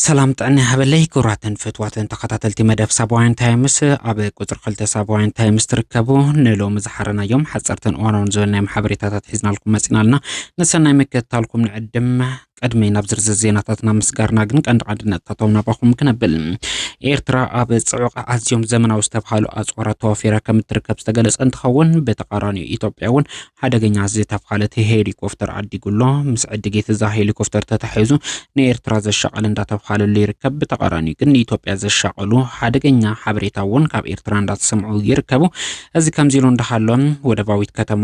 ሰላም ጥዕና ይሃበለይ ክቡራትን ፍትዋትን ተኸታተልቲ መደብ ሳባውያን ታይምስ ኣብ ቁፅሪ ክልተ ሳባውያን ታይምስ ትርከቡ ንሎሚ ዝሓረናዮም ሓፀርትን እዋናውን ዝበልናዮም ሓበሬታታት ሒዝናልኩም መፂና ኣለና ንሰናይ ምክትታልኩም ንዕድም ቅድሚ ናብ ዝርዝር ዜናታትና ምስጋርና ግን ቀንዲ ቀንዲ ነጥታቶም ናባኹም ክነብል ኤርትራ ኣብ ፅዑቕ ኣዝዮም ዘመናዊ ዝተብሃሉ ኣፅዋራት ተዋፊራ ከም እትርከብ ዝተገለፀ እንትኸውን ብተቃራኒኡ ኢትዮጵያ እውን ሓደገኛ ዝተብሃለት ሄሊኮፍተር ኣዲጉሎ ምስ ዕድጊት እዛ ሄሊኮፍተር ተታሒዙ ንኤርትራ ዘሻቐል እንዳተብሃለሉ ይርከብ። ብተቃራኒኡ ግን ንኢትዮጵያ ዘሻቐሉ ሓደገኛ ሓበሬታ እውን ካብ ኤርትራ እንዳተሰምዑ ይርከቡ። እዚ ከምዚ ኢሉ እንዳሃሎን ወደባዊት ከተማ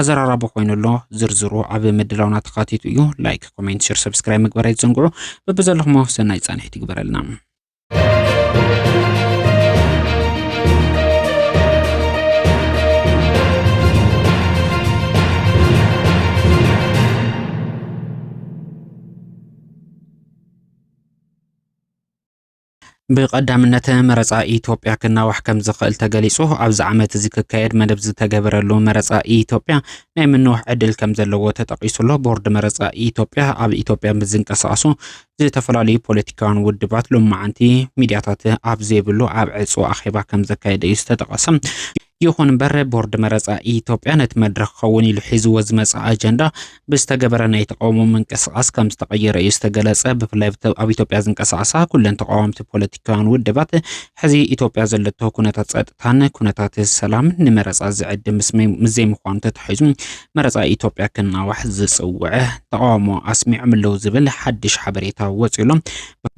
ኣዘራራቢ ኮይኑ ኣሎ ዝርዝሩ ኣብ ምድላውና ተኻቲቱ እዩ ላይክ ኮሜንት ሽር ሰብስክራይብ ምግበር ኣይትዘንግዑ በብዘለኹሞ ሰናይ ፃንሒት ይግበረልና ብቐዳምነት መረፃ ኢትዮጵያ ክናዋሕ ከም ዝኽእል ተገሊፁ። ኣብዚ ዓመት እዚ ክካየድ መደብ ዝተገበረሉ መረፃ ኢትዮጵያ ናይ ምንዋሕ ዕድል ከም ዘለዎ ተጠቒሱ ኣሎ። ቦርድ መረፃ ኢትዮጵያ ኣብ ኢትዮጵያ ምስ ዝንቀሳቐሱ ዝተፈላለዩ ፖለቲካውያን ውድባት ሎማዓንቲ ሚድያታት ኣብ ዘይብሉ ኣብ ዕፁው ኣኼባ ከም ዘካየደ እዩ ዝተጠቐሰ። ይኹን እምበር ቦርድ መረፃ ኢትዮጵያ ነቲ መድረኽ ክኸውን ኢሉ ሒዝዎ ዝመፀ ኣጀንዳ ብዝተገበረ ናይ ተቃውሞ ምንቅስቓስ ከም ዝተቐየረ እዩ ዝተገለፀ። ብፍላይ ኣብ ኢትዮጵያ ዝንቀሳቐሳ ኩለን ተቃዋምቲ ፖለቲካውያን ውድባት ሕዚ ኢትዮጵያ ዘለቶ ኩነታት ፀጥታን ኩነታት ሰላም ንመረፃ ዝዕድ ምስ ዘይምዃኑ ተታሒዙ መረፃ ኢትዮጵያ ክናዋሕ ዝፅውዐ ተቃውሞ ኣስሚዖም ኣለዉ ዝብል ሓድሽ ሓበሬታ ወፂኡሎም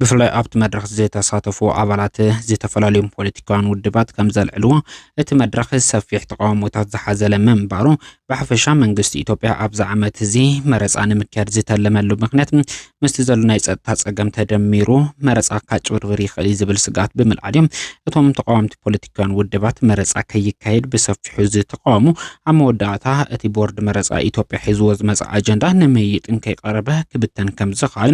ብፍላይ ኣብቲ መድረኽ ዝተሳተፉ ኣባላት ዝተፈላለዩ ፖለቲካውያን ውድባት ከም ዘልዕልዎ እቲ መድረኽ ሰፊሕ ተቃውሞታት ዝሓዘለ ምንባሩ ብሓፈሻ መንግስቲ ኢትዮጵያ ኣብዚ ዓመት እዚ መረፃ ንምክያድ ዝተለመሉ ምክንያት ምስቲ ዘሎ ናይ ፀጥታ ፀገም ተደሚሩ መረፃ ካጭብርብር ይኽእል እዩ ዝብል ስግኣት ብምልዓል እዮም እቶም ተቃወምቲ ፖለቲካውያን ውድባት መረፃ ከይካየድ ብሰፊሑ ዝተቃወሙ ኣብ መወዳእታ እቲ ቦርድ መረፃ ኢትዮጵያ ሒዝዎ ዝመፀ ኣጀንዳ ንምይጥን ከይቀረበ ክብተን ከም ዝኽኣል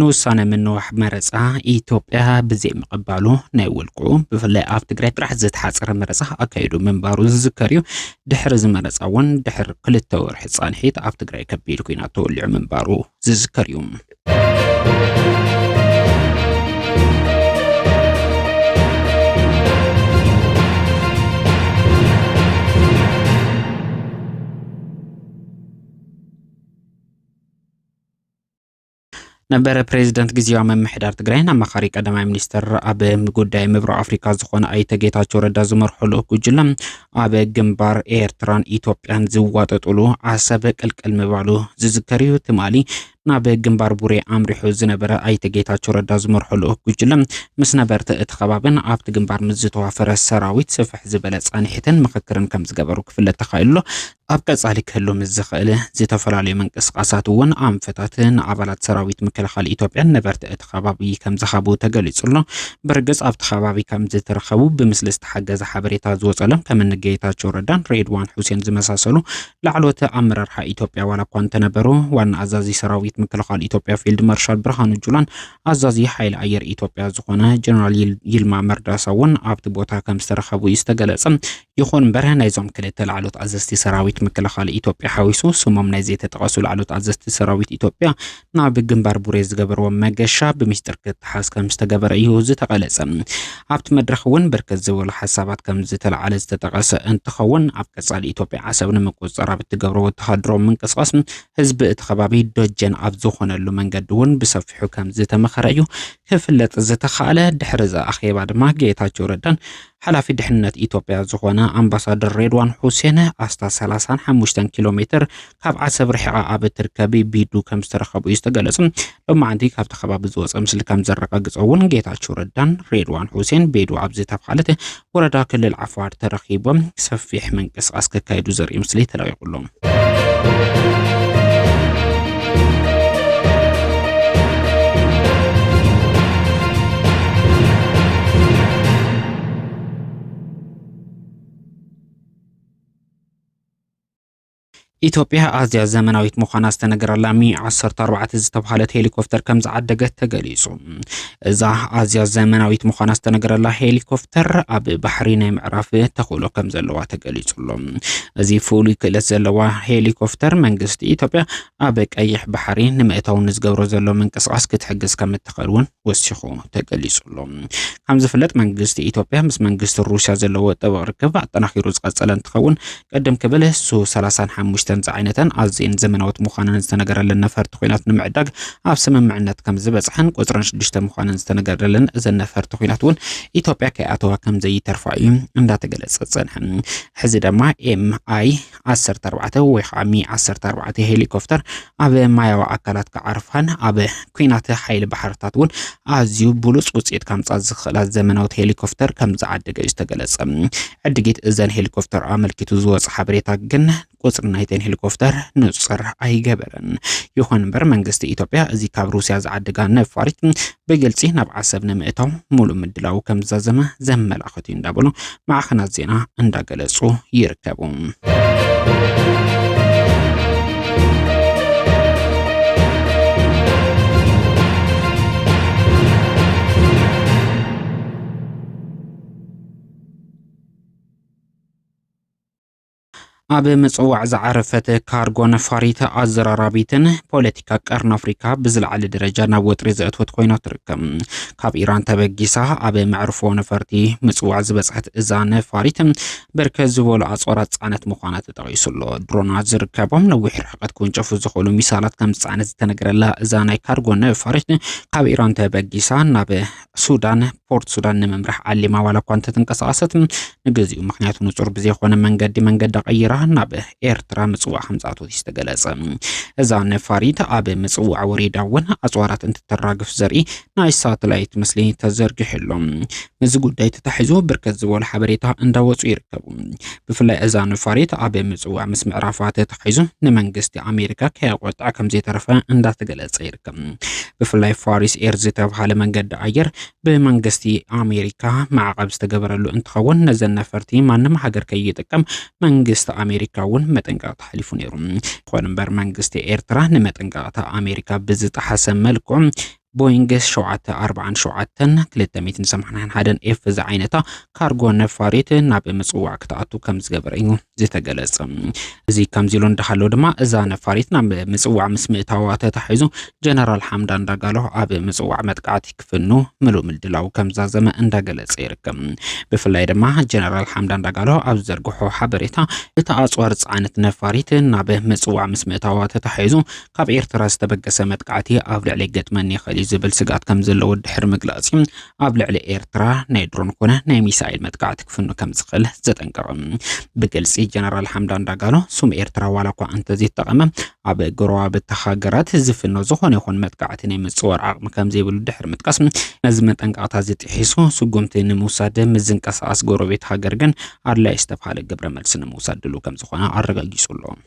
ንውሳነ ምንዋሕ መረፃ ኢትዮጵያ ብዘይምቕባሉ ናይ ውልቁ ብፍላይ ኣብ ትግራይ ጥራሕ ዝተሓፀረ መረፃ ኣካይዱ ምንባሩ ዝዝከር እዩ። ድሕሪ እዚ መረፃ እውን ድሕሪ ክልተ ወርሒ ፃንሒት ኣብ ትግራይ ከቢድ ኩናት ተወሊዑ ምንባሩ ዝዝከር እዩ። ነበረ ፕሬዚደንት ግዜያዊ ምምሕዳር ትግራይን ኣማኻሪ ቀዳማይ ሚኒስትር ኣብ ጉዳይ ምብራቕ ኣፍሪካ ዝኾነ ኣይተ ጌታቸው ረዳ ዝመርሖ ልኡኽ ጉጅለ ኣብ ግንባር ኤርትራን ኢትዮጵያን ዝዋጠጥሉ ዓሰብ ቅልቅል ምባሉ ዝዝከር እዩ። ትማሊ ናብ ግንባር ቡሬ ኣምሪሑ ዝነበረ ኣይተ ጌታቸው ረዳ ዝመርሖ ልኡኽ ጉጅለ ምስ ነበርቲ እቲ ከባብን ኣብቲ ግንባር ምስ ዝተዋፈረ ሰራዊት ስፍሕ ዝበለ ፃንሒትን ምኽክርን ከም ዝገበሩ ክፍለጥ ተኻኢሉ ኣሎ። ኣብ ቀጻሊ ክህሉ ምስ ዝኽእል ዝተፈላለዩ ምንቅስቓሳት እውን ኣንፈታት ንኣባላት ሰራዊት ምክልኻል ኢትዮጵያን ነበርቲ እቲ ከባቢ ከም ዝሃቡ ተገሊጹ ኣሎ። ብርግጽ ኣብቲ ከባቢ ከም ዝተረኸቡ ብምስሊ ዝተሓገዘ ሓበሬታ ዝወጸሎም ከም እኒ ጌታቸው ረዳን ሬድዋን ሑሴን ዝመሳሰሉ ላዕለዎት ኣመራርሓ ኢትዮጵያ ዋላ እኳ እንተነበሩ ዋና ኣዛዚ ሰራዊት ምክልኻል ኢትዮጵያ ፊልድ ማርሻል ብርሃኑ ጁላን ኣዛዚ ሓይሊ ኣየር ኢትዮጵያ ዝኾነ ጀነራል ይልማ መርዳሳ እውን ኣብቲ ቦታ ከም ዝተረኸቡ እዩ ዝተገለጸ። ይኹን እምበር ናይዞም ክልተ ላዕሎት ኣዘዝቲ ሰራዊት ምክልኻል ኢትዮጵያ ሓዊሱ ስሞም ናይ ዘይተጠቐሱ ላዕሎት ኣዘዝቲ ሰራዊት ኢትዮጵያ ናብ ግንባር ቡሬ ዝገበርዎ መገሻ ብሚስጥር ክተሓዝ ከም ዝተገበረ እዩ ዝተቐለጸ። ኣብቲ መድረኽ እውን ብርክት ዝበሉ ሓሳባት ከም ዝተለዓለ ዝተጠቐሰ እንትኸውን ኣብ ቀጻሊ ኢትዮጵያ ዓሰብ ንምቁጽጻር ኣብ እትገብሮ ወተሃደራዊ ምንቅስቓስ ህዝቢ እቲ ከባቢ ደጀን ኣብ ዝኾነሉ መንገዲ እውን ብሰፊሑ ከም ዝተመኸረ እዩ ክፍለጥ ዝተኻእለ። ድሕሪ እዚ ኣኼባ ድማ ጌታቸው ረዳን ሓላፊ ድሕነት ኢትዮጵያ ዝኾነ ኣምባሳደር ሬድዋን ሑሴን ኣስታት ሰላሳን ሓሙሽተን ኪሎ ሜትር ካብ ዓሰብ ርሒቓ ኣብ እትርከብ ቢዱ ከም ዝተረኸቡ እዩ ዝተገለጸ። ሎማዕንቲ ካብቲ ከባቢ ዝወጸ ምስሊ ከም ዘረጋግጾ እውን ጌታቸው ረዳን ሬድዋን ሑሴን ቤዱ ኣብ ዝተብሃለት ወረዳ ክልል ዓፋር ተረኺቦም ሰፊሕ ምንቅስቓስ ከካይዱ ዘርኢ ምስሊ ተለቂቑሎም። ኢትዮጵያ ኣዝያ ዘመናዊት ምዃና ዝተነገረላ ሚ 14 ዝተባሃለት ሄሊኮፕተር ከም ዝዓደገት ተገሊጹ። እዛ ኣዝያ ዘመናዊት ምዃና ዝተነገረላ ሄሊኮፕተር ኣብ ባሕሪ ናይ ምዕራፍ ተኽእሎ ከም ዘለዋ ተገሊጹ ኣሎ። እዚ ፍሉይ ክእለት ዘለዋ ሄሊኮፕተር መንግስቲ ኢትዮጵያ ኣብ ቀይሕ ባሕሪ ንምእታው ንዝገብሮ ዘሎ ምንቅስቓስ ክትሕግዝ ከም እትኽእል እውን ወሲኹ ተገሊጹ ኣሎ። ከም ዝፍለጥ መንግስቲ ኢትዮጵያ ምስ መንግስቲ ሩስያ ዘለዎ ጥብቕ ርክብ ኣጠናኺሩ ዝቐጸለ እንትኸውን ቅድም ክብል ሱ ሰላሳን ሓሙሽተን ዝዓይነተን ኣዝየን ዘመናዎት ምዃነን ዝተነገረለን ነፈርቲ ኲናት ንምዕዳግ ኣብ ስምምዕነት ከም ዝበጽሐን ቁጽረን ሽዱሽተ ምዃነን ዝተነገረለን እዘን ነፈርቲ ኲናት እውን ኢትዮጵያ ከይኣተዋ ከም ዘይተርፋ እዩ እንዳተገለጸ ዝጸንሐ። ሕዚ ድማ ኤም ኣይ ዓሰርተ ኣርባዕተ ወይ ከዓ ሚ ዓሰርተ ኣርባዕተ ሄሊኮፕተር ኣብ ማያዊ ኣካላት ክዓርፋን ኣብ ኩናት ሓይሊ ባሕርታት እውን ኣዝዩ ብሉፅ ውፅኢት ከምፃ ዝኽእላ ዘመናዊት ሄሊኮፕተር ከም ዝዓደገ እዩ ዝተገለጸ። ዕድጊት እዘን ሄሊኮፕተር ኣመልኪቱ ዝወፀ ሓበሬታ ግን ቁፅሪ ናይተን ሄሊኮፕተር ንፅር ኣይገበረን። ይኹን እምበር መንግስቲ ኢትዮጵያ እዚ ካብ ሩስያ ዝዓደጋ ነፋሪት ብግልፂ ናብ ዓሰብ ንምእታው ሙሉእ ምድላዉ ከምዝዛዘመ ዘመላኽት እዩ እንዳበሉ ማዕኸናት ዜና እንዳገለፁ ይርከቡ። ኣብ ምጽዋዕ ዝዓረፈት ካርጎ ነፋሪት ኣዘራራቢትን ፖለቲካ ቀርኒ ኣፍሪካ ብዝለዓለ ደረጃ ናብ ወጥሪ ዘእትወት ኮይና ትርከብ። ካብ ኢራን ተበጊሳ ኣብ መዕርፎ ነፈርቲ ምጽዋዕ ዝበጽሐት እዛ ነፋሪት ብርከት ዝበሉ ኣጽዋራት ጻዕነት ምዃና ተጠቒሱ ኣሎ። ድሮናት ዝርከቦም ነዊሕ ርሕቀት ክውንጨፉ ዝኽእሉ ሚሳላት ከም ዝጸዓነት ዝተነገረላ እዛ ናይ ካርጎ ነፋሪት ካብ ኢራን ተበጊሳ ናብ ሱዳን ፖርት ሱዳን ንምምራሕ ዓሊማ ዋላ እኳ እንተተንቀሳቐሰት ንግዚኡ ምክንያቱ ንጹር ብዘይኮነ መንገዲ መንገዳ ቀይራ ናብ ኤርትራ ምጽዋዕ ከምጽኣቶት እዩ ዝተገለጸ። እዛ ነፋሪት ኣብ ምጽዋዕ ወሪዳ እውን ኣጽዋራት እንትተራግፍ ዘርኢ ናይ ሳተላይት ምስሊ ተዘርጊሑ ኣሎ። ምስዚ ጉዳይ ተታሒዙ ብርከት ዝበሉ ሓበሬታ እንዳወጹ ይርከቡ። ብፍላይ እዛ ነፋሪት ኣብ ምጽዋዕ ምስ ምዕራፋት ተተሓሒዙ ንመንግስቲ ኣሜሪካ ከየቆጥዐ ከም ዘይተረፈ እንዳተገለጸ ይርከብ። ብፍላይ ፋሪስ ኤር ዝተብሃለ መንገዲ ኣየር ብመንግስቲ ኣሜሪካ ማዕቐብ ዝተገበረሉ እንትኸውን ነዘን ነፈርቲ ማንም ሃገር ከይጥቀም መንግስቲ ኣሜሪካ እውን መጠንቀቕታ ሓሊፉ ነይሩ። ይኹን እምበር መንግስቲ ኤርትራ ንመጠንቀቕታ ኣሜሪካ ብዝጠሓሰ መልክዑ ቦይንግ 747-281 ኤፍ ዝዓይነታ ካርጎ ነፋሪት ናብ ምጽዋዕ ክትኣቱ ከም ዝገበረ እዩ ዝተገለጸ። እዚ ከምዚ ኢሉ እንዳሃሎ ድማ እዛ ነፋሪት ናብ ምጽዋዕ ምስ ምእታዋ ተታሒዙ ጀነራል ሓምዳን ዳጋሎ ኣብ ምጽዋዕ መጥቃዕቲ ክፍኑ ምሉእ ምድላው ከም ዛዘመ እንዳገለጸ ይርከብ። ብፍላይ ድማ ጀነራል ሓምዳን ዳጋሎ ኣብ ዝዘርግሖ ሓበሬታ እታ ኣጽዋር ጽዓነት ነፋሪት ናብ ምጽዋዕ ምስ ምእታዋ ተታሒዙ ካብ ኤርትራ ዝተበገሰ መጥቃዕቲ ኣብ ልዕሊ ገጥመን ይኽእል እዩ ዝብል ስግኣት ከም ዘለዎ ድሕሪ ምግላጽ ኣብ ልዕሊ ኤርትራ ናይ ድሮን ኮነ ናይ ሚሳኤል መጥቃዕቲ ክፍኑ ከም ዝኽእል ዘጠንቀቐ ብግልፂ ጀነራል ሓምዳን ዳጋሎ ስም ኤርትራ ዋላ እኳ እንተዘይተጠቐመ ኣብ ጎረባብቲ ሃገራት ዝፍኖ ዝኾነ ይኹን መጥቃዕቲ ናይ ምፅዋር ዓቕሚ ከም ዘይብሉ ድሕሪ ምጥቃስ ነዚ መጠንቀቕታ ዝጥሒሱ ስጉምቲ ንምውሳድ ምዝንቀሳቐስ ጎረቤት ሃገር ግን ኣድላይ ዝተብሃለ ግብረ መልሲ ንምውሳድ ድሉ ከም ዝኾነ ኣረጋጊጹ ኣሎ።